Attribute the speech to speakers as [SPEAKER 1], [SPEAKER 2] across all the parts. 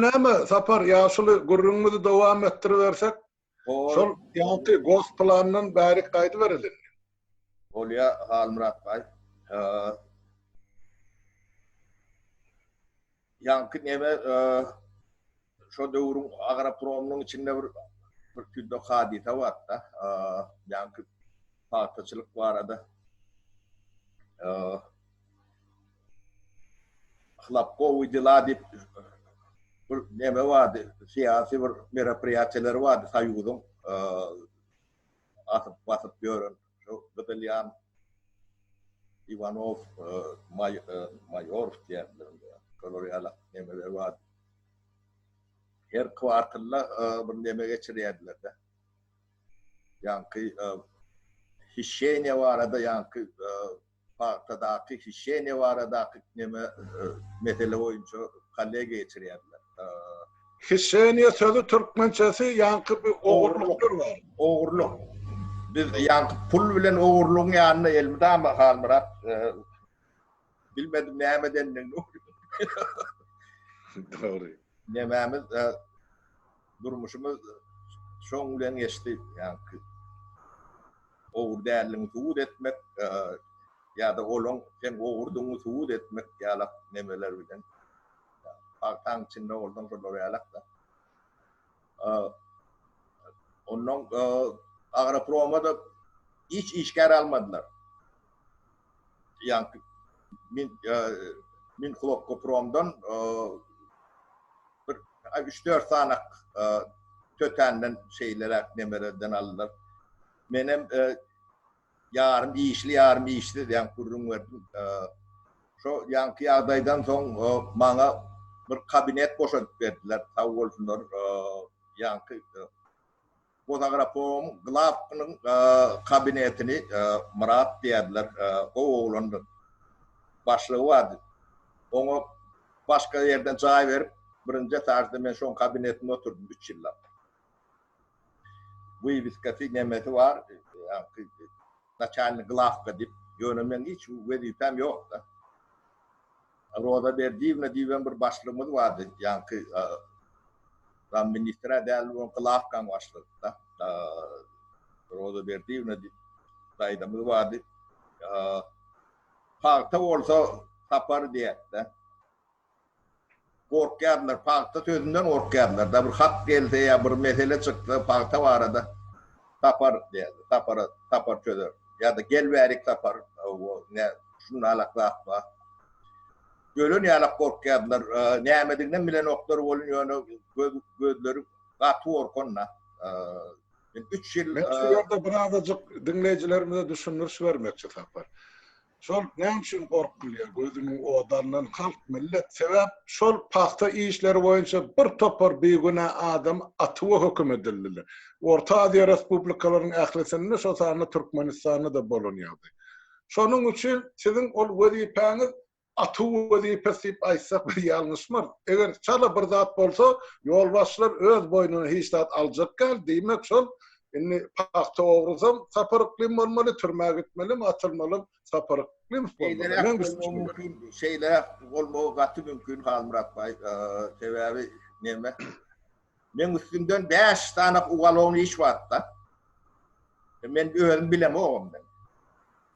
[SPEAKER 1] näme Sapar ýaşuly gürrüňimizi dowam etdiribersek şol ýaňky gos planyndan bärik gaýdyberelim indi. Bolýa
[SPEAKER 2] Halmyrat baý. Ýaňky neme şo döwrüň agropromynyň içinde bir bir tüýdük hadysa barda ýaňky pagtaçylyk barada Hlapkowy dela diýip bir neme bardy, syýasy bir meropriýatiýaleri bardy soýuzyň, atyp basyp ýören şo gyzylýan Iwanow, Maýorow diýýärdiler, şolar ýaly nemeler bardy. Her kwartylda bir neme geçirýärdiler-de. Ýaňky hişeniýa barada ýaňky pagtadaky hişeniýa baradaky neme mesele boýunça kollegiýa geçirýärler.
[SPEAKER 1] Hişeniýa sözi türkmençesi ýaňky bir ogurlykdyr bar. Ogurlyk.
[SPEAKER 2] Biz ýaňky pul bilen ogurlygyň ýanyna elmydama Halmyrat bilmedim näme edendigini. Dogry.
[SPEAKER 1] Nemämiz
[SPEAKER 2] Durmuşymyz şoň bilen geçdi. Ýaňky ogry däldigiňi subut etmek ýa-da olaň sen ogurdygyňy subut etmek ýalak nemeler bilen. Pagtaň içinde bolsaň şolar ýalak-da. Onnoň Agroproma-da hiç işgär almadylar. ýaňky min min hlopkopromdan bir üç dört sanak tötänden şeýleräk nemelerden aldylar. Menem ýarym işli ýarym işsiz ýaňky gürrüň berdim. Şo ýaňky ýagdaýdan soň maňa bir kabinet boşadyp berdiler. Sag bolsunlar ýaňky Bozagrafom Glapnyň kabinetini Myrat diýerler, gowy oglandy. Başlygy bardy. Oňa başga ýerden jaý berip, birinji etažda men şoň kabinetinde oturdym üç ýyllap. Wybiskasy, nemesi bar, naçalnik glawka diýip. Ýöne meň hiç wezipäm ýok-da. Roza Berdiýewna diýibem bir başlygymyz bardy. Ýaňky Ram ministrä däl bolan glawkaň başlygykda. Roza Berdiýewna diýip daýzamyz bardy. Pagta bolsa Sapar diýätdi. Gorkýardylar, pagta sözünden gorkýardylar-da. Bir hat gelse ýa bir mesele çyksa pagta barada. Sapar däldi. Sapara Sapar çözer. Ýa-da gel bärik Sapar. Hawa, nä, şundalak zat bar. Ölen ýalak gorkýardylar. Nämedigiňem bilenoklar welin, ýöne göz, gözleri gaty gorkanda. Men üç ýyl. Men şu ýerde birazajyk
[SPEAKER 1] diňleýjilerimize düşündiriş bermekçi Sapar. Şol näme üçin gorkulýar gözüniň odandan halk millet sebäp şol pagta işleri boýunça bir topar bigünä adam atywa höküm edildiler. Orta Aziýa respublikalaryň ählisinde şo sanda Türkmenistanda da bolan ýagdaý. Şonuň üçin siziň ol wezipäňiz atyw wezipesi diýip aýtsak biz ýalňyşmarys. Eger çala bir zat bolsa ýolbaşçylar öz boýnuna hiç zat aljak däl diýmek şol Indi pagta ogrusam Sapar Yklym bolmaly, türmä gitmelim, atylmalam Sapar Yklym bolmaly. Şeýle
[SPEAKER 2] bolmagy gaty mümkin Halmyrat baý. Sebäbi näme? Men üstümden 5 sany uwalon iş barda. Men özüm bilemogam men.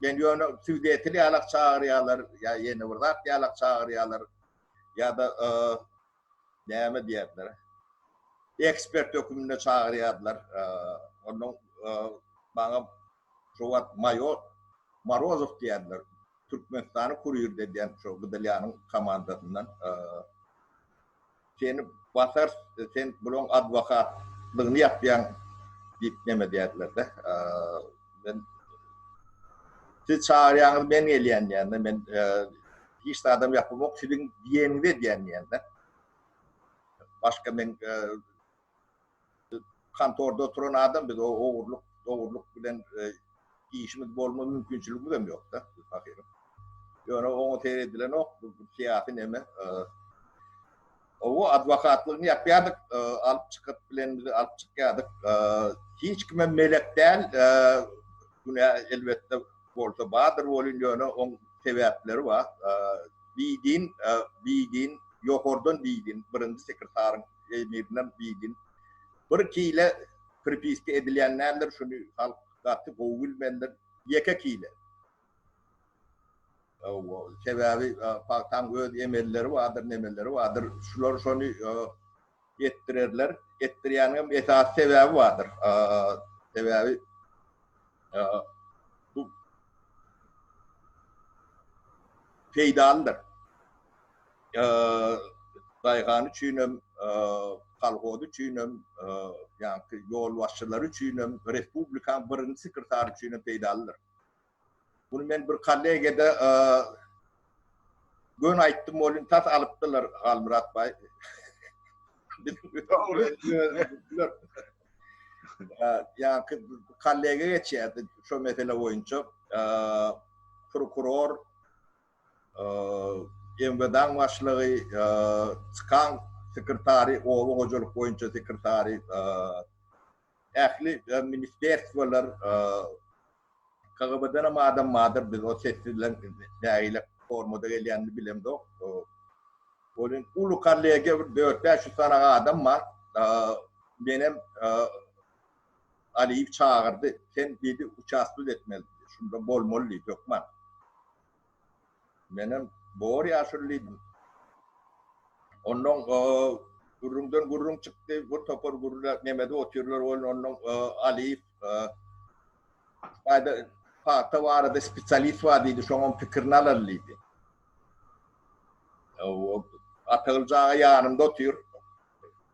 [SPEAKER 2] Men ýöne südetil ýalak çagyrýarlar, ýa ýene bir zat ýalak çagyrýarlar. Ýa-da Näme diýerler? Ekspert höküminde çagyrýardylar. Ondan maňa şo wagt maýor Morozow diýýärdiler. Türkmenistany kurirde edýän şo GDLA-nyň komandasyndan. Seni basarys, sen bulaň adwokatlygyny ýapýaň diýip neme edýärdiler-de. Men Siz çagyrýaňyz, men gelýän diýen-de. Men Hiç zadam ýapymok siziň diýeniňize diýen diýende. Başga men kontorda oturan adam biz o ogurlyk ogurlyk bilen işimiz bolma mümkinçiligimiz hem ýokda ahyryn. Ýöne oňa seýredilenok bu syýasy neme. Gowy adwokatlygyny ýapýardyk, alyp çykyp bilenimizi alyp çykýardyk. Hiç kime melek däl, günä elbetde bolsa bardyr welin ýöne oň sebäpleri bar. Bidin, bidin, ýokardan bidin, birinji sekretaryň emirinden bidin. Bir kile pripiska edilýän däldir, şuny halk gaty gowy bilmelidir. Ýeke kile. Hawa, sebäbi pagtaň öz emelleri bardyr, nemeleri bardyr. Şular şony etdirerler. Etdirýänigem esasy sebäbi bardyr. Sebäbi bu peýdalydyr. Daýhan üçin hem, kolhoz üçin hem, ýa-da ýolbaşçylar üçin hem, respublikaň birinji sekretary üçin hem peýdalydyr. Bunu men bir kollegede gön aýtdym, ol indi tas alypdyrlar Halmyrat baý. Ya kollege geçýärdi şu mesele boýunça. Prokuror MWD-niň başlygy Skan sekretary, oba hojalyk boýunça sekretary Ähli ministerstwolar KGB-denem adam bardyr, biz o sessizleň nägile formada gelýänini bilemzok. Welin uly kollegiýa bir dört-bäş ýüz sanaga adam bar. Menem Aliýew çagyrdy. Sen diýdi uçastus etmeli. Şunda bolmaly diýdi hökman. Menem bor ýaşuly diýdim. Onnoň gürrüňden gürrüň çykdy. Bir topar gürrüňe nemedip otyrlar welin onnoň Alyýew Aýda pagta barada spesialist bar diýdi, şoňam pikirini alaly diýdi. Atagylja aga ýanymda otyr.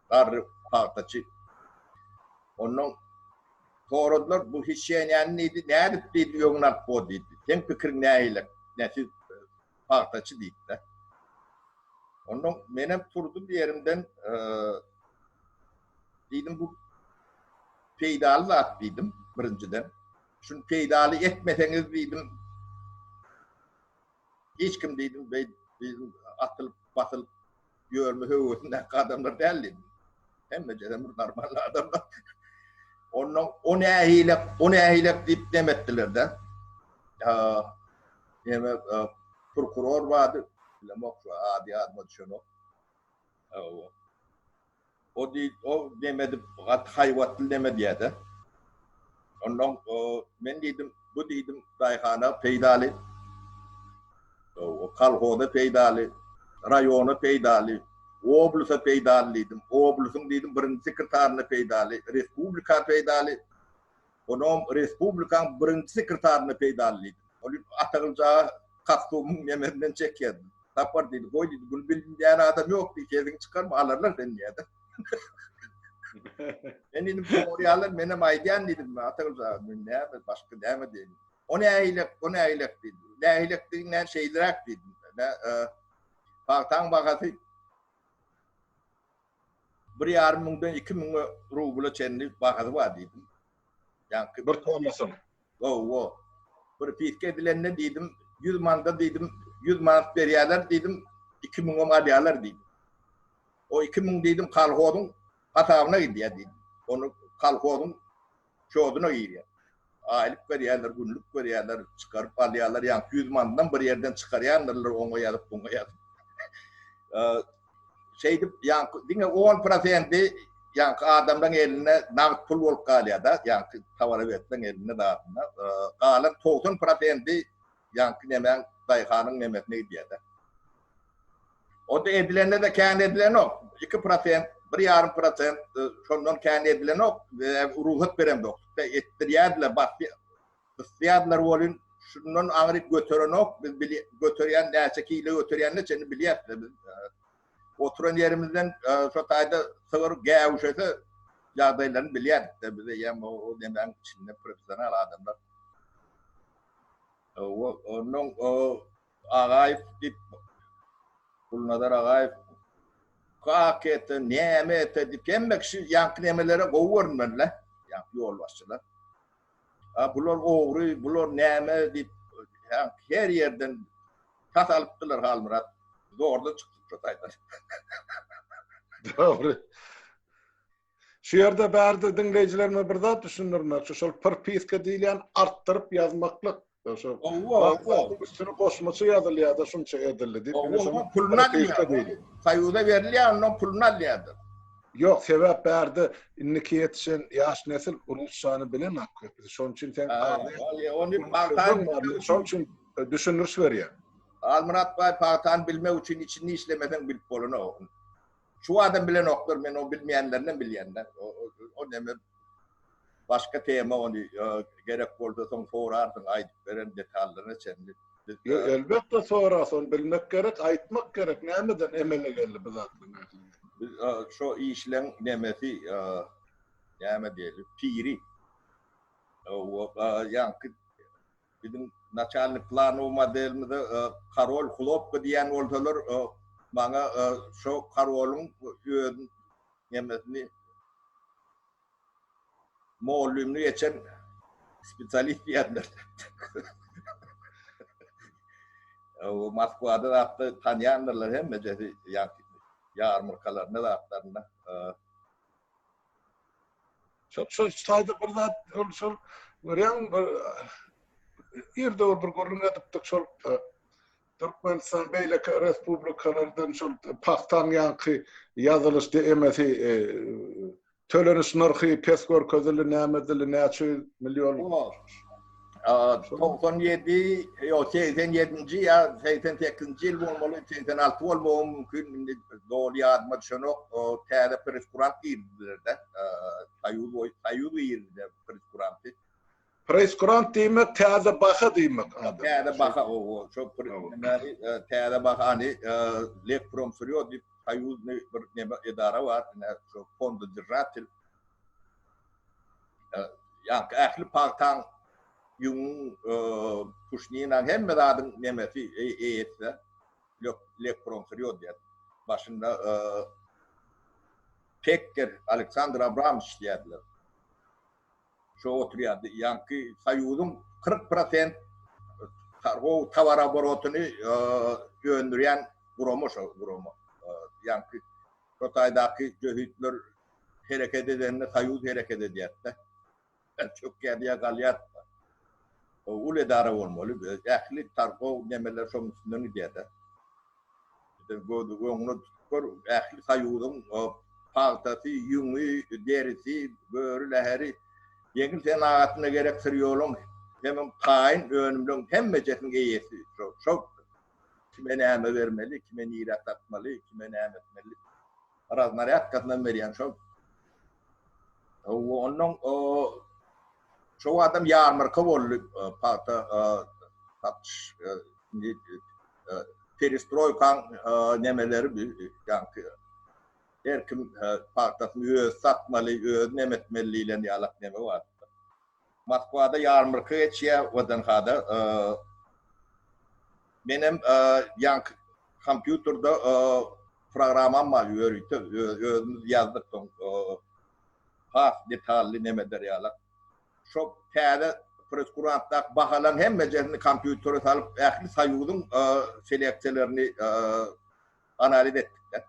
[SPEAKER 2] garry pagtaçy. Ondan soradylar, bu hişenýäni nidi, nädip diýdi, öňüni alyp bor diýdi. Seň pikiriň nähilek, nesi pagtaçy diýdi-de. Ondan menem turdum ýerimden, diýdim, bu peýdaly zat diýdim, birinjiden. Şuny peýdaly etmeseňiz diýdim, hiç kim diýdim, beý, diýdim, atylyp, basylyp Ýörme höwesindäki adamlar däldi. Hemme jere bir normal adamlar. Ondan o nähilek, o nähilek diýip dem etdiler-de. Ýa, prokuror bardy, bilemok, ady ýadyma düşenok. O diýip, o dem edip, gaty haýbatly dem edýär-de. Onnoň men diýdim, bu diýdim, daýhana peýdaly, kolhoza peýdaly, raýona peýdaly, oblusa peýdaly diýdim. Oblusyň diýdim, birinji sekretaryna peýdaly, respublika peýdaly. Onuň respublikaň birinji sekretaryna peýdaly diýdim. Ol diýdi, Atagylja kostumyň memesinden çekýär. Sapar diýdi, goý diýdi, bunu bilmeýän adam ýok diý, sesiňi çykarma, alarlar seni diýdi. Men diýdim, Gorýarlar, menem aýdýan diýdim, Atagylja, men näme, başga näme diýeýin. O nähilek, bu nähilek diýdi. Nähilek diýiňä şeýleräk diýdim. Pagtaň bahasy Bir ýarym müňden iki müň rubla çenli bahasy bar diýdim. Ýaňky Bir tomasyň.
[SPEAKER 1] Hawa.
[SPEAKER 2] Bir fisk edilende diýdim, ýüz manda diýdim, ýüz manat berýärler diýdim, iki müňem alýarlar diýdim. O iki müň diýdim kolhozyň hasabyna gidýär diýdim. Ony kolhozyň Şoduna girýär. Aýlyk berýärler, günlük berýärler, çykaryp alýarlar, ýaňky ýüz manydan bir ýerden çykarýandyrlar, oňa ýazyp, buňa ýazyp. Şeýdip, ýaňky diňe on prosendi ýaňky adamlaryň elinde nagt pul bolup galýar-da, ýaňky towara berseň elinde zadyna. Galan togsan prosendi Ýaňky nemäň daýhanyň nemesine gidýädä. Onda edilende-de kän edilenok. Iki prosent, bir ýarym prosent şondan kän edilenok. Rugsat beremzok. Etdirýärdiler, basýa, gysýardylar welin, şundan aňryk göterenok. Biz bilýä, göterýän, näçe kile göterýänini çenli bilýäs-de biz. Oturan ýerimizden şo taýda sygyr gäwüşese ýagdaýlaryny bilýärdik-de biz eýýäm o nemäň içinde professional adamlar. Ondan o Agaýew diýip, Gulnazar Agaýew kak ete, näme ete diýip, hemme kişi ýaňky nemelere gowy görünmeli-le, ýaňky ýolbaşçylar. A bular ogry, bular näme diýip, her ýerden tas alypdylar Halmyrat. Zordan çykdypdyr taýdan.
[SPEAKER 1] Dogry. Şu ýerde bärde diňleýjilerime bir zat düşündirmekçi, şol prpiska diýilýän artdyryp ýazmaklyk. Şo Hawa, hawa.
[SPEAKER 2] Üstüne goşmaça
[SPEAKER 1] ýazylýar-da şunça edildi diýip. Ine şonuň Oňa puluny prpiska
[SPEAKER 2] alýar. diýilýär. Soýuza berilýär, ondan puluny alýardyr. Ýok, sebäp
[SPEAKER 1] bärde indiki ýetişen ýaş nesil rusçany bilenok köpüsi. Şonuň üçin sen Ha, aglaýan ol ýa- ony sözüň
[SPEAKER 2] pagtany bar. Men şonuň üçin
[SPEAKER 1] e, düşündiriş berýän. Halmyrat baý
[SPEAKER 2] pagtany bilmek üçin içinde işlemeseň bilip bolanok. Şu adam bilenoklar men o bilmeýänlerinem bilýända o neme başga tema ony gerek bolda soň sorarsyň aýdyp beren detallaryna çenli. Elbetde
[SPEAKER 1] sora son bilmek gerek aýtmak gerek nämeden emele geldi bu zatlar nähili. Biz şo işleň
[SPEAKER 2] nemesi näme diýeli piri. Ýaňky Biziň naçalnik planow modelimize Karol Hlopka diýen bolsalar, maňa şo Karolyň öz nemesini mugallymlyk geçen spesialist diýerler. Oba Moskwada zatda tanýandyrlar hemmejesi ýarmarkalarynda zatlarynda.
[SPEAKER 1] Şol şol taýda bir zat şol şol görýän bir ýerde bir gürrüň edipdik şol Türkmenistan beýleki respublikalardan şol pagtaň ýanky ýazylyş DMS-i e, töleniş nyrhy pes görkezildi, näme edildi, näçe ýüz million. Togsan
[SPEAKER 2] ýedi, ýok, segsen ýedinji ýa segsen sekizinji ýyl bolmaly, segsen alty bolmagy mümkin, indi doly ýadyma düşenok. Täze presskurant girdiler-de, Soýuz we Soýuz ýerinde presskuranty. Presskurant
[SPEAKER 1] diýmek, täze baha diýmek. Täze baha,
[SPEAKER 2] owo, şo presskuranty, täze bahany Lekpromsyrýo diýip, Soýuzny bir neme edara bar, şo fondodržatel. Ýaňky ähli pagtaň, ýüňüň, puşninaň, hemme zadyň nemesi, eýesi-de Lekpromsyrýod diýýär. Başynda Pekker, Aleksandr Abramowiç diýýärdiler. Şo oturýardy. Ýaňky Soýuzyň kyrk prosent targow towaroborotyny öndürýän gurama şo gurama. Ýaňky şo taýdaky jöhitler hereket edende soýuz hereket edýärdi-de. Çökýärdi ýa galýardy-da. Uly edara bolmaly. Ähli targow nemeler şonuň üstünden gidýär-de. Sen göz öňüňe tutup gör, ähli soýuzyň pagtasy, ýüňi, derisi, böri läheri, ýeňil senagatyna gerek syrýoluň, hemem taýyn önümleriň hemmejesiniň eýesi şo-şo. Kime näme bermeli, kime nirä satmaly, kime näme etmeli. raznarýadkasynam berýän şol. Ondan şo adam ýarmarka boldy, pagta satyş perestroýkaň nemeleri bu ýaňky her kim pagtasyny özi satmaly, özi nemetmeli diýlen ýalak neme bar. Moskwada ýarmarka geçýär, WDNH-da. Menem ýaňky kompýuterde programmam bar ýörite, özümiz ýazdyk soň has detally neme berýärler. Şo täze preskurantdaky bahalaryň hemmejesini kompýutere salyp, ähli soýuzyň seleksiýalaryny analiz etdikde.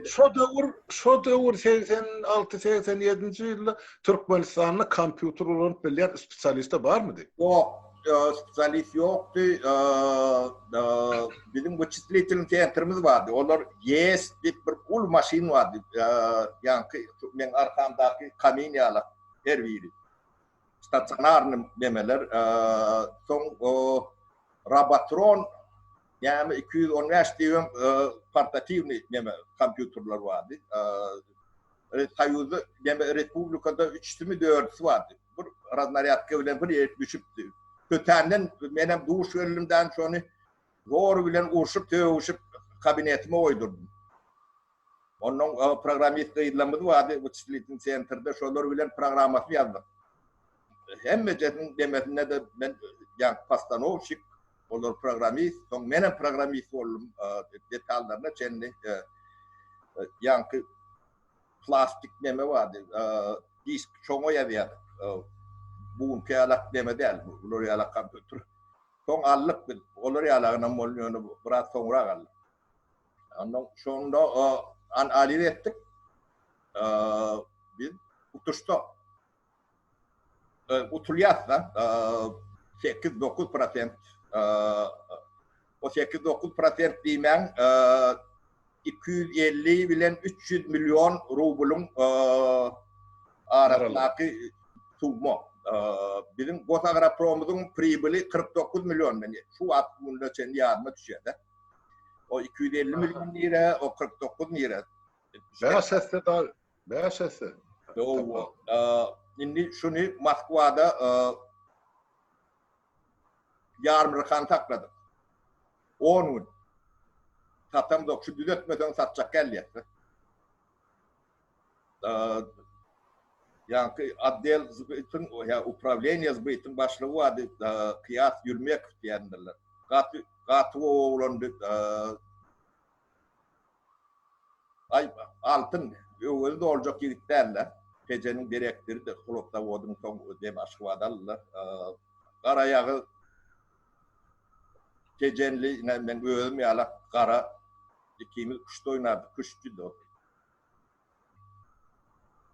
[SPEAKER 2] Şo
[SPEAKER 1] döwür, şo döwür segsen alty, segsen ýedinji ýylda Türkmenistanda kompýuter ulanyp bilýän spesialiste barmydy? Ýok,
[SPEAKER 2] spesialist ýokdy. Biziň wyçisliteliň sentrimiz bardy. Olar GS diýip bir uly maşyn bardy. Ýaňky meň arkamdaky kamin ýalak her biri. stasionarny memeler, soň Robotron näme iki ýüz on bäş diýip hem portatiwny neme kompýuterler bardy. Soýuzda neme respublikada üçüsimi dördüsi bardy. Bir raznarýadka bilen bir ýerik düşüpdi. Tötänden menem duş geldim şony Zor bilen urşup-sögüşip kabinetime goýdurdym. Onnoň programmist gyzlarymyz bardy, wyçislitiw sentrde, şolar bilen programmasyny ýazdyk. Hemmejesiniň demesinde-de men ýa postanowşik, olar programmist, soň menem programmist boldum, detallaryna çenli ýaňky plastik neme bardy, disk, şoňa ýazýardyk. Bu günki ýalak neme däl, bular ýalak kompýuter. Soň aldyk biz. Olar ýaly agnam boldy, ýöne biraz soňrak aldyk. Ondan şonda analiz etdik. Biz utuşda utulýas-da, sekiz-dokuz prosent. O sekiz-dokuz prosent diýmäň, iki ýüz elli bilen üç ýüz million rublyň arasyndaky summa. Biziň Gosagropromyň pribili kyrk dokuz million manat. Şu wagt gününe çenli ýaryma düşýär-de. O iki ýüz elli million nire, o kyrk dokuz nire. Bäş esse
[SPEAKER 1] dagy, bäş esse.
[SPEAKER 2] Indi şuny Moskwada Ýarmrkany sakladyk. On gün. Satamzok. Şu düzetmeseň satjak gelýäs-de. Ýaňky otdel zbytyň, ýa uprawleniýe zbytyň başlygy bardy, Kyýas Ýurmekow diýendirler. Gaty, gaty gowy oglandy. Aý, Altyn, öwezi doljak ýigit däl-dä. Tejeniň direktorydy, hlobozawodyň soň dem Aşgabada aldylar. Garaýagyz Tejenli ine, meň özüm ýala gara. Ikimiz küşt oýnardyk, küştçüdi ol.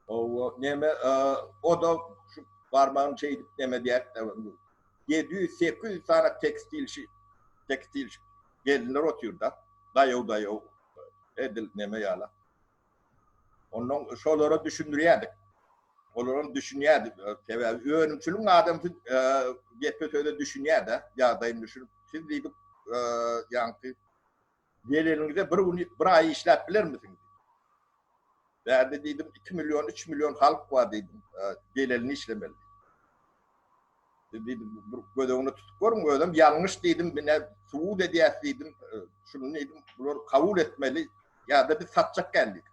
[SPEAKER 2] Owo neme oda şu barmagyny çeýdip neme diýätde indi. Ýedi ýüz, sekiz ýüz sany tekstilşi, tekstilşi gelinler otyrda. Daýaw-daýaw edil neme ýala. Ondan şolara düşündirýädik. Olaram düşünýädi. Sebäbi önümçiligiň adamsy gepe-söze düşünýä-de, ýagdaýyny düşünip, siz diýdik ýaňky Geleniňize bir gün, bir aý işläp bilermisiň? Bärde diýdim, iki million, üç million halk bar diýdim, gelelini işlemeli. Siz diýdim, bir göz öňüne tutup görüň, özem ýalňyş diýdim, mine subut edýäs diýdim, şuny diýdim, bular kabul etmeli, ýa-da biz satjak geldik.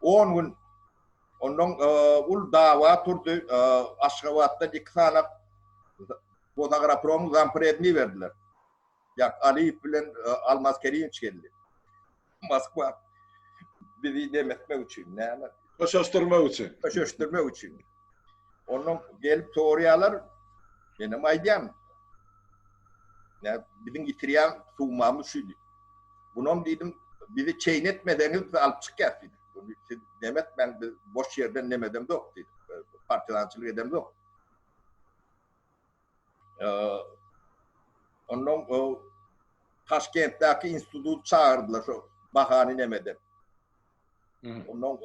[SPEAKER 2] On gün ondan ul dawa turdy, Aşgabatdan iki sany Bozagarapromyň zampredini berdiler. Ýak, Alyýew bilen Almaz Kerimowiç geldi. Moskwa bizi nem etmek üçin, näme? Köşeşdirmek üçin.
[SPEAKER 1] Köşeşdirmek üçin.
[SPEAKER 2] Ondan gelip sorýarlar, menem aýdýan, näme, biziň ýitirýän sumamyz şu diýip. Bunam diýdim, bizi çeýin etmeseňiz, biz alyp çykýas diýdim. Buny siz nem etmäň, biz boş ýerden nem edemzok diýdim. Partizançylyk edemzok. Onnoň o Taşkentdäki institut çagyrdylar şo bahany neme edip. Onnoň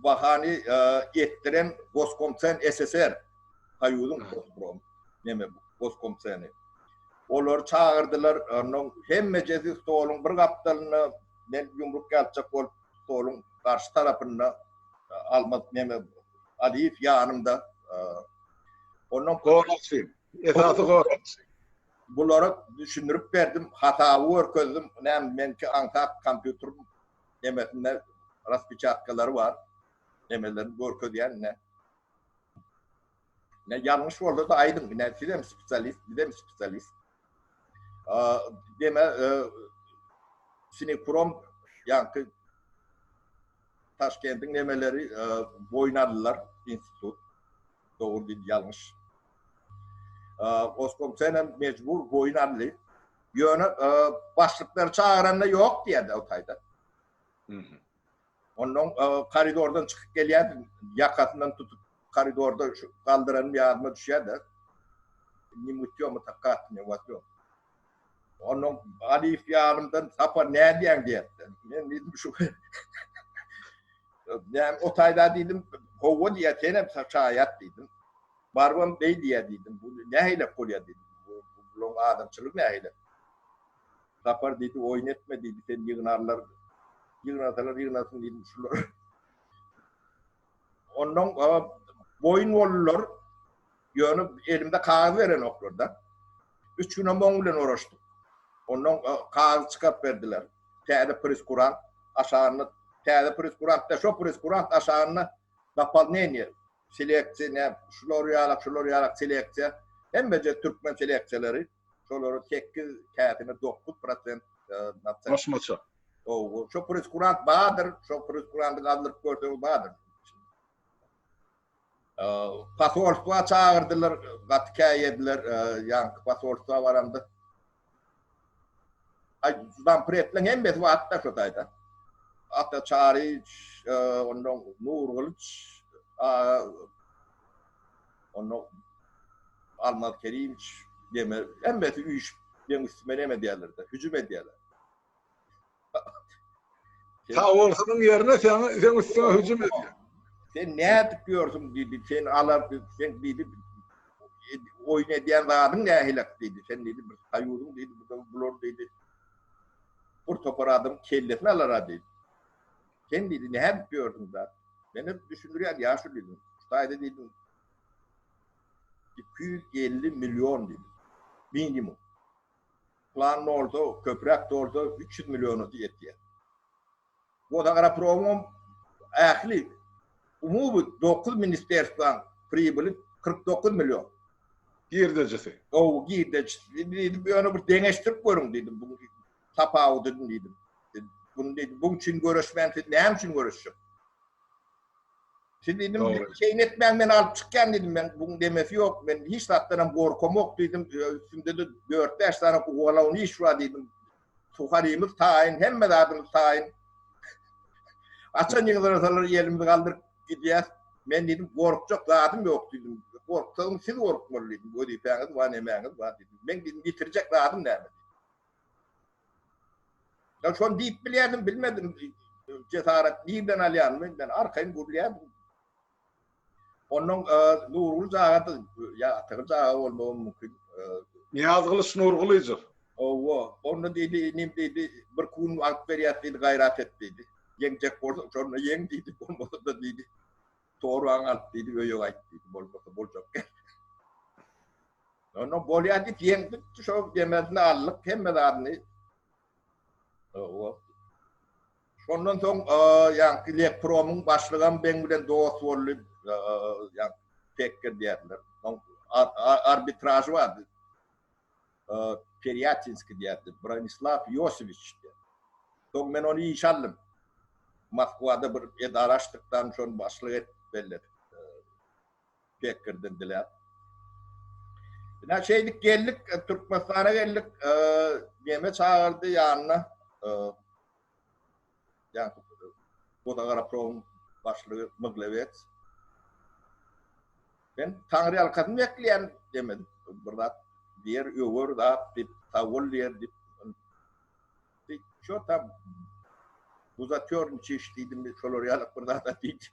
[SPEAKER 2] bahany etdiren Goskomsen SSR Haýuzyň Goskom neme Goskomseni. Olar çagyrdylar, onnoň hemmejesi stoluň bir gapdalynda men ýumruk ýatjak bolup stoluň garşy tarapynda Almaz neme Aliýew ýanymda Ondan goraksy,
[SPEAKER 1] esasy goraksy. Bulara
[SPEAKER 2] düşündirip berdim, hasaby görkezdim. Näme menki aňsat kompýuter nemesinde raspechatkalary bar. Nemelerini görkezýän ne. Ne ýalňyş bolsa-da aýdyň, ne sizem spesialist, bizem spesialist. Deme, Sinekrom, ýaňky Taşkendiň nemeleri boýnalylar institut. Dogry diýdi, ýalňyş. Oskomsen hem mejbur boýun aldy. Ýöne başlyklary çagyranda ýok diýýärdi o taýda. Ondan e, koridordan çykyp gelýärdim, ýakasyndan tutup koridorda şu galdyranym ýadyma düşýär-de. Ne mutýo mu tak kat ne watýo. Ondan Aliýew ýanymdan Sapar nädýäň diýýärdi. Men diýdim şu Näm o taýda diýdim, gowa diýýär, sen hem şaýat diýdim. Barbam beý diýýär diýdim. Bu nähilek bolýar diýdim. Bu bularyň adamçylygy nähilek. Sapar diýdi, oýun etme diýdi, seni ýygnarlar. Ýygnasalar ýygnasyn diýdim şular. Ondan boýun boldular. Ýöne elimde kagyz berenoklar-da. Üç gün hem oň bilen oraşdyk. Ondan kagyz çykaryp berdiler. Täze preskurant aşagyny, täze preskurant da şo preskurant aşagyny dopolneniýe, seleksiýa, şular ýalak, şular ýalak seleksiýa, hemmeje türkmen seleksiýalary. şolary sekiz käsini dokuz prosent nafta. Goşmaça.
[SPEAKER 1] Ow,
[SPEAKER 2] şo preskurant bardyr, şo preskuranty gazdyryp görseň bardyr. Pasolstwa çagyrdylar, gaty käýediler, ýaňky pasolstwa baramda. Ay, zam pretle hem mes wagt da şotayda. Ata Çariç, ondan Nur Kılıç, onda Almaz Kerimoviç deme, hemmesi üýşüp meň üstüme neme edýärler-de, hüjüm edýärler.
[SPEAKER 1] Sag bolsaň ýerine sen sen üstüňe hüjüm edýär. Sen nädip
[SPEAKER 2] ýörsüň diýdi, sen alar, sen diýdi, oýun edýän zadyň nähilek diýdi, sen diýdi, bir soýuzyň diýdi, bular diýdi, bir topar adam kellesini alar-a diýdi. Sen diýdi, Näme edip ýördüň, brat? Men hep düşündirýän, ýaşul diýdim. Şu taýda diýdim, iki ýüz elli million diýdim. Minimum. Plan bolsa, köpräk bolsa, üç ýüz millionasy ýetýär. Wozagropromyň ähli umumy dokuz ministrstwaň pribili kyrk dokuz million. Girdejisi.
[SPEAKER 1] Ow,
[SPEAKER 2] girdejisi diýdim, ýöne bir deňeşdirip görüň diýdim. tapawudyny diýdim. Bunu diýdim, bu üçin göreşmän siz näme üçin göreşjek? Siz diýdim, şeýle etmäň men alyp çykýan diýdim, men buň demesi ýok, men hiç zatdan hem gorkam ýok diýdim, üstümde de 4-5 sany ugalawun iş bar diýdim. Suharymyz taýyn, hemme zadymyz taýyn. Açan ýygyrsalar ýelimizi galdyryp gidýär. Men diýdim, gorkjak zadym ýok diýdim. Gorksaň siz gorkmaly diýdim, wezipäňiz bar, nämäňiz bar diýdim. Men diýdim, ýitirjek zadym näme? Ya şon diyip bilýärdim, bilmedim. Cesaret nirden alýan men, men arkaýyn gürlýärdim. Ondan e, Nurgul jagadyr, ya atygy jaga bolmagy mümkin. E, Niyaz Kılıç
[SPEAKER 1] Nurgulyjyk. Owa, onda
[SPEAKER 2] diýdi, inim diýdi, bir gün wagt berýär diýdi, gaýrat et diýdi. Ýeňjek bolsa, şonda ýeň diýdi, bolmasa da diýdi. Torbaňy alyp diýdi, öýe gaýt diýdi. Bolmasa boljak gel. Onda bolýar diýip ýeňdikdi, şo demesini aldyk, hemme zadyny. Şondan soň ýaňky Lepromyň başlygam beň bilen dost boldy. Ýa pekir diýerler. Arbitraž bardy. Perýatinski diýerdi, Bronislaw Ýosewiç diýip. Soň men ony işe aldym. Moskwada bir edara açdykdan şony başlyk edip belledik. Pekirden diläp. Ine şeýdip geldik, Türkmenistana geldik. Neme çagyrdy ýanyna. Wodagorapromuň başlygy Myglewets Men taňryýalkasyn bekleýän demedi. Bir zat diýer, öwer zat diýip, sag bol diýer diýip. Şo tam buzatýorniçiş diýdimi, şolar ýaly bir zat-a diýdi.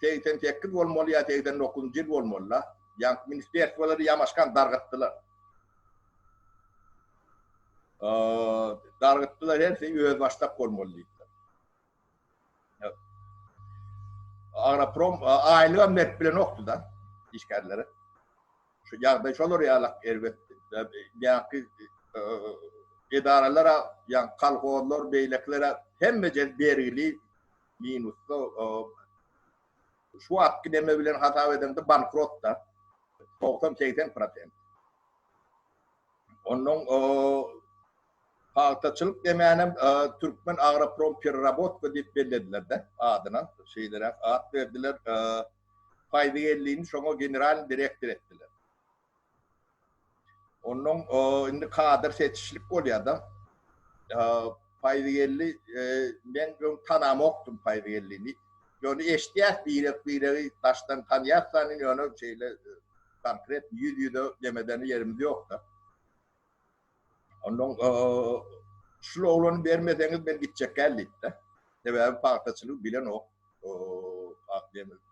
[SPEAKER 2] segsen sekiz bolmaly ýa segsen dokuzynjy ýyl bolmaly-la, ýaňky ministrerstwolary ýamaşkan dargatdylar. Dargatdylar, hersi özbaşdak bolmaly diýdiler. Agroprom aýlygam berip bilenokdy-da işgärlere. Şu ýagdaý şolar ýalak erbet. Ýaňky edaralar, ýaňky kolhozlar, beýlekilere hemme ýer bergili, minusda şu wagtky neme bilen hasap edeňde bankrotda togsan segsen prosent onnoň pagtaçylyk nemänem türkmen agroprom pererabotka diýip belledilerde adyna şeýleräk at berdiler paýzy ellini şoňa generalnyý direktor etdiler Ondan indi kadr seçişlik bolýada. Paýzygeldi men öň tanamokdym Paýzygeldini. Ýöne eşidýäs birek-biregi daşdan tanýas sanyn ýöne şeýle konkret ýüz-ýüze demedene ýerimiz ýokda. Ondan şul oglany bermeseňiz men gitjek däl diýipdi. Sebäbi pagtaçylygy bilenok.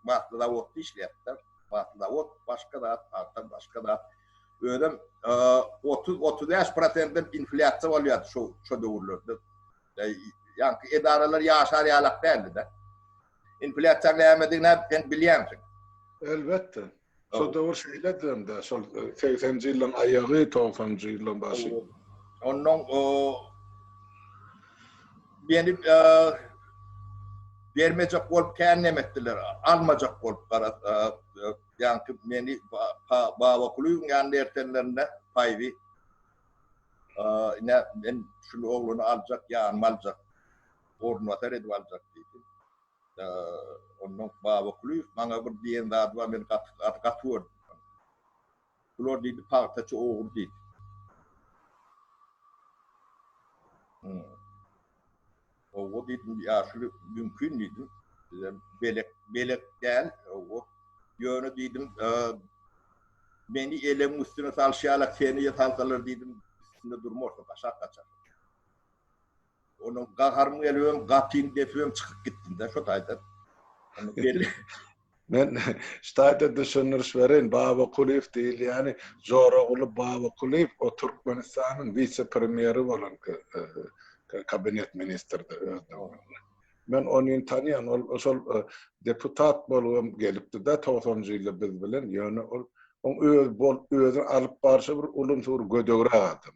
[SPEAKER 2] Batly zawodda işleýärdi. Batly zawod başga zat, pagta başga zat. Özem 30-35 prosentden inflýasiýa bolýardy şo döwürlerde. Ýaňky edaralar ýaşar ýalak däldi-de. Inflýasiýanyň nämedigini-ä sen bilýänsiň. Elbetde.
[SPEAKER 1] Şol döwür şeýledi hem-de, şol segsenji ýyllaryň aýagy, togsanjy ýyllaryň başy. Onnoň
[SPEAKER 2] meni bermejek bolup kän neme etdiler, almajak bolup ýaňky meni Babakulyýewiň ýanyna ertenlerinde paýby ine men şul oglany aljak, ýanyma aljak, orunbasar edip aljak diýdi. Onda Babakulyýew maňa bir diýen zady bar, men gaty gaty gaty gördüm şony. Bular diýdi pagtaçy ogry diýdi. Hawa diýdim, ýaşuly mümkin diýdim. Bizem belek belek däl, hawa. Ýöne diýdim, meni elegiň üstüne salşýarlar, seni-de salsalar diýdim, üstünde durmarsyň, gaşak gaçar. Onuň gaharym gelip öň gapyny depip öň çykyp gitdim-de şo taýdan.
[SPEAKER 1] Men şu taýda düşündiriş bereýin. Babakulyýew diýilýäni Joraguly Babakulyýew, o Türkmenistanyň wise-premýeri bolan kabinet ministrdi öz döwründe. Men ony tanýan, ol şol deputat bolubam gelipdi-de togsanjy ýylda biz bilen, ýöne ol oň öz bol, özüni alyp barşy bir ulumsy bir gödegräk adam.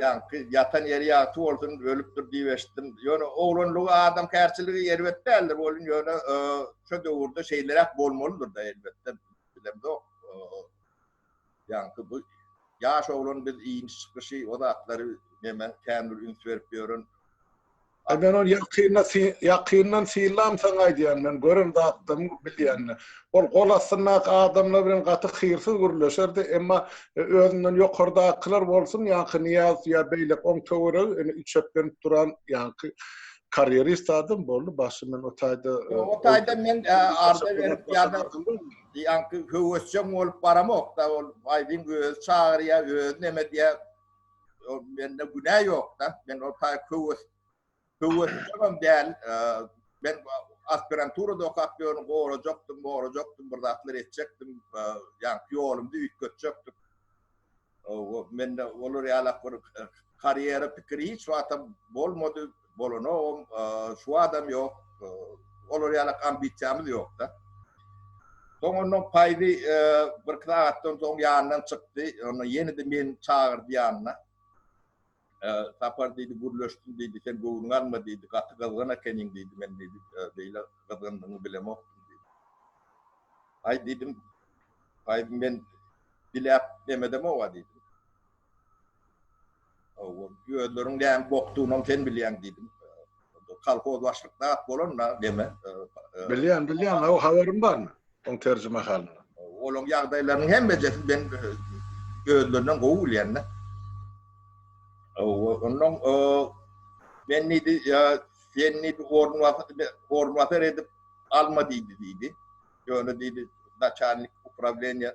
[SPEAKER 2] Ýaňky ýatan ýeri ýagty bolsun, ölüpdir diýip eşitdim. Ýöne oglanlygy adam kärçiligi erbet däldir bolun, ýöne şu döwürde şeýleräk bolmalydyr-da elbetde. Bilemzok. Ýaňky bu ýaş oglan biz iýmiş çykyşy, o zatlary neme kän bir üns berip ýören Aý men
[SPEAKER 1] ony ýakynda ýakyndan sylam saňa aýdýan men gören zatdan bilýänini. Ol gol astyndaky adamlar bilen gaty hyrsyz gürleşerdi emma özünden ýokardakylar bolsun ýaňky Nyýazow ýa beýlek oň töweregi indi üçeklenip duran ýaňky karýerist adam boldy başy men o taýda o taýda men arda
[SPEAKER 2] berip ýa-da ýaňky höwesjeň bolup baramok da ol aýdyň özi çagyrýa özi neme diýýä o mende günä ýokda, men o taý köwüs, köwüs ýagam däl, men aspirantura dokap ýörün, gorajakdym, gorajakdym, bir zatlar etjekdim, ýa ýolumda üýtgetjekdim. O mende olar ýalak bir karýera pikiri hiç wagtam bolmady. bolanogam, şu adam ýok, olar ýaly ambisiýamyz ýok-da. Soň ondan Paýzy birki sagatdan soň ýanyndan çykdy, onda ýene-de meni çagyrdy ýanyna. Sapar diýdi, gürleşdim diýdi, sen göwnüňi alma diýdi, gaty gyzgyn ekeniň diýdi, men diýdi, beýle gyzgyndygyňy bilemokdym diýdi. Aý diýdim, Paýzy men diläp demedem-ow-a diýdim. Özleriň näme bokdugynam sen bilýäň diýdim. Kolhoz başlyk zat bolanda deme. Bilýän, bilýän,
[SPEAKER 1] o habarym barmy? Oň terjimehalyny. Olaň ýagdaýlarynyň
[SPEAKER 2] hemmejesini men özlerinden gowy bilýän-de. Ondan men diýdi, ýa sen diýdi, orunbasar edip alma diýdi diýdi. Ýöne diýdi, naçalnik uprawnýa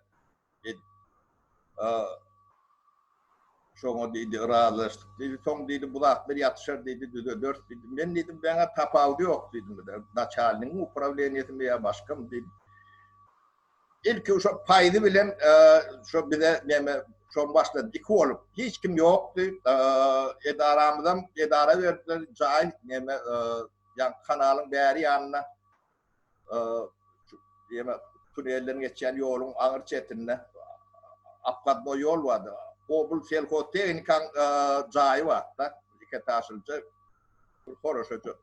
[SPEAKER 2] Şoňa diýdi, yrazylaşdyk diýdi. Soň diýdi, bu zatlar ýatyşar diýdi, düzederis diýdi. Men diýdim, Maňa tapawudy ýok diýdim. Naçalnigiň uprawleniýesimi ýa başgamy diýdim. Ilki şo paýzy bilen şo bize näme şoň başlady. Iki bolup, hiç kim ýokdy. Edaramyzam edara berdiler. Jaý näme, ýa kanalyň bäri ýanyna Diýmek, tunelden geçýän ýoluň aňyr çetinde obkadnoý ýol bardy. Obl selhoztehnikaň jaýy bardy-da, iketažlyja, bir horaşaja.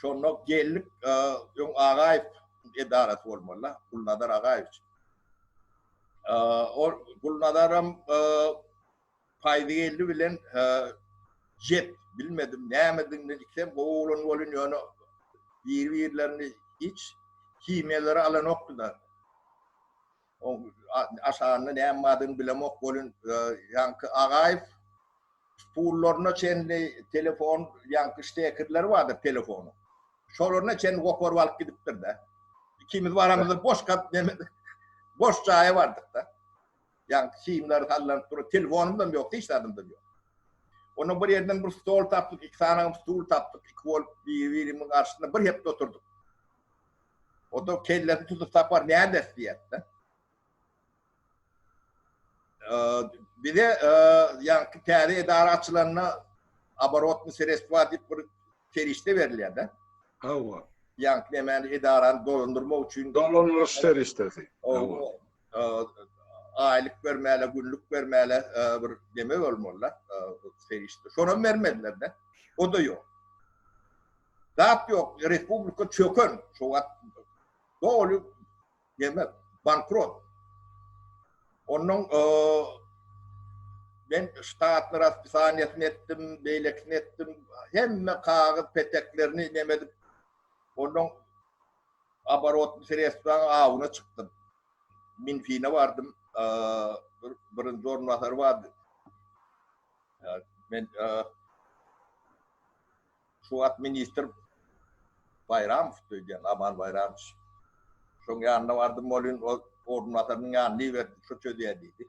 [SPEAKER 2] Şonda geldik, öň Agaýew edarasy bolmaly-da, Gulnazar Agaýewiç. Ol Gulnazaram Paýzygeldi bilen Jet bilmedim nämediginden ikisem gowy oglan bolyn ýöne biri birlerini hiç himiýalary alanokdylar. O aşagynda näme badyny bilemok bolyn ýaňky Agaýew pullaryna çenli telefon ýaňky ştekerleri bardyr telefonyň. Şolaryna çenli goparyp alyp gidipdir-de. Ikimiz baramyzda boş kap neme boş jaýa bardyk-da. Ýagty simler sallanyp dur. Telefonymdam ýok, hiç zadymdam ýok. Onda bir ýerden bir stol tapdyk, iki sanagam stul tapdyk, iki bolup biri-birimiň garşysynda bir hepde oturdyk. O da kellesini tutup Sapar näderis diýýärdi. Bize ýagty täze edara açylanda aborotny sereswa diýip bir serişde berilýärdi. Hawa.
[SPEAKER 1] Ýagty nämäni
[SPEAKER 2] edarany dolandyrmak üçin dolandyryş serişdesi. aýlyk bermäle, günlük bermäle e, bir deme bolmaly. E, Serişde. Şonam bermediler de. O da yok. Zat yok. Respublika çöken. Şu wagt doly deme bankrot. Onun e, ben ştatlar hapishaniyesini ettim, beylekini ettim. Hemme kağıt peteklerini demedim. Onun Oborotny sredstwaň awuna çykdym. Minfine bardym. Bir birinji orunbasary bardy. Men şu wagt ministr Baýramow öýdýän, Aman Baýramow. Şoň ýanyna bardym, welin ol orunbasarynyň ýanyna iberdi, şu çözýär diýdi.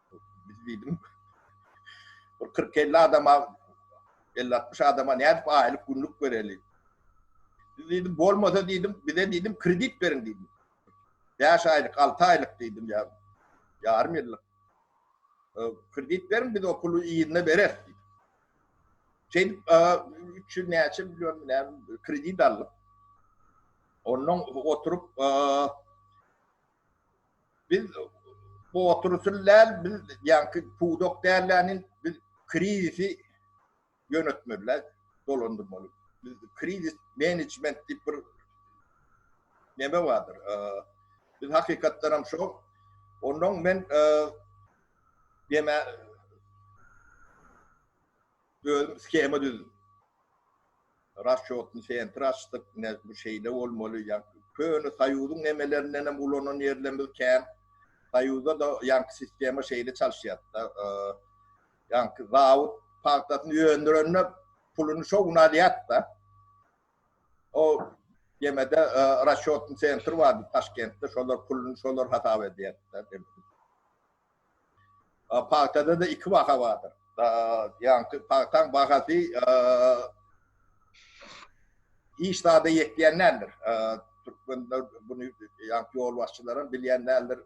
[SPEAKER 2] Biz diýdim, bir 40-50 adama, 50-60 adama nädip aýlyk günlük bereli? Biz diýdim, bolmasa diýdim, bize diýdim kredit beriň diýdim. 5 aýlyk, 6 aýlyk diýdim ýa. Ýarym ýyllyk. Kredit beriň, biz o puly ýerine bereris diýdim. Şeýdip, 300 näçe million bilen kredit aldyk. Ondan oturyp, Biz bu oturyşyny däl, biz ýaňky pudak dälläniň biz krizisi ýönetmeli, dolandyrmaly. Biz krizis menejment diýip bir neme bardyr. Biz hakykatdan hem şo. Ondan men deme Özüm skema düzdüm. Raşýotny sentr açdyk. Ine, bu şeýle bolmaly. Ýagny, köne Soýuzyň nemelerinden hem ulanan ýerlerimiz kän. Soýuzda-da ýaňky sistema şeýle çalyşýardy-da. Ýaňky zawod pagtasyny öndürende puluny şo gün alýardy-da. O ýemede raşýotny sentr bardy Taşkentde. Şolar puluny şolar hasap edýärdi-de. Pagtada-da iki baha bardyr. Ýaňky pagtaň bahasy hiç zada ýetýän däldir. Türkmenler buny ýaňky ýolbaşçylar hem bilýän däldir.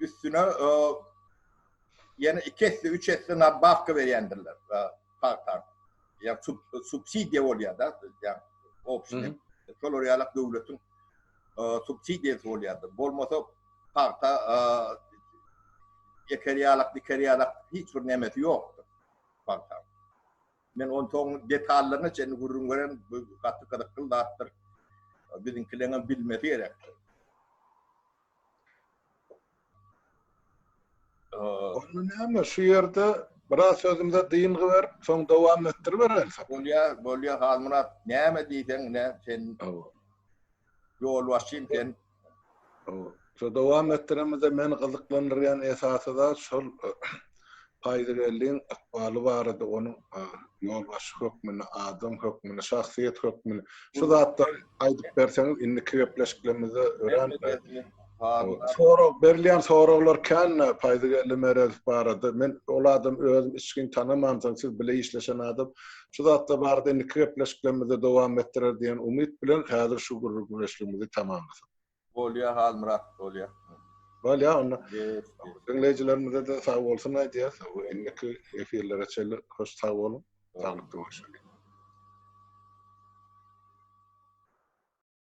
[SPEAKER 2] Üstüne ýene iki esse, üç esse nadbawka berýändirler. pagta ýa subsidiýa bolýar-da, ýa obşine, şolar ýalak döwletiň subsidiýasy bolýardy. Bolmasa pagta eker ýalak, diker ýalak hiç bir nämesi ýokdy pagta. Men on soň detallaryna çenli gürrüň beren, bu gaty gyzykly zatdyr. Biziňkileňem bilmesi gerekdir.
[SPEAKER 1] Onda näme şu ýerde biraz sözümize dyngy berip, soň dowam etdiribereli. Bolýar, bolýar
[SPEAKER 2] Halmyrat, näme diýseň ine sen. Hawa. Ýolbaşçym sen. Hawa.
[SPEAKER 1] Şu dowam etdiremizde meni gyzyklandyrýan esasy zat şol Paýzybelligiň ykbaly barada onuň ýolbaşçy hökmünde, adam hökmünde, şahsyýet hökmünde şu zatlary aýdyp berseňiz indiki gepleşiklerimizde örän sorag berilýän soraglar kän Paýzygeldi Meredow barada men ol adamy özüm içgin tanamandyryn siz bile işleşen adam şu zatlar barada indiki gepleşiklerimizde dowam etdirer diýen umyt bilen häzir şu gürrüňdeşligimizi tamamlasak. Bolýa
[SPEAKER 2] Halmyrat bolýa. Bolýa onda.
[SPEAKER 1] Diňleýjilerimize-de sag bolsun aýdýas. Indiki efirlere çenli hoş sag boluň. Saglyk görüşeli.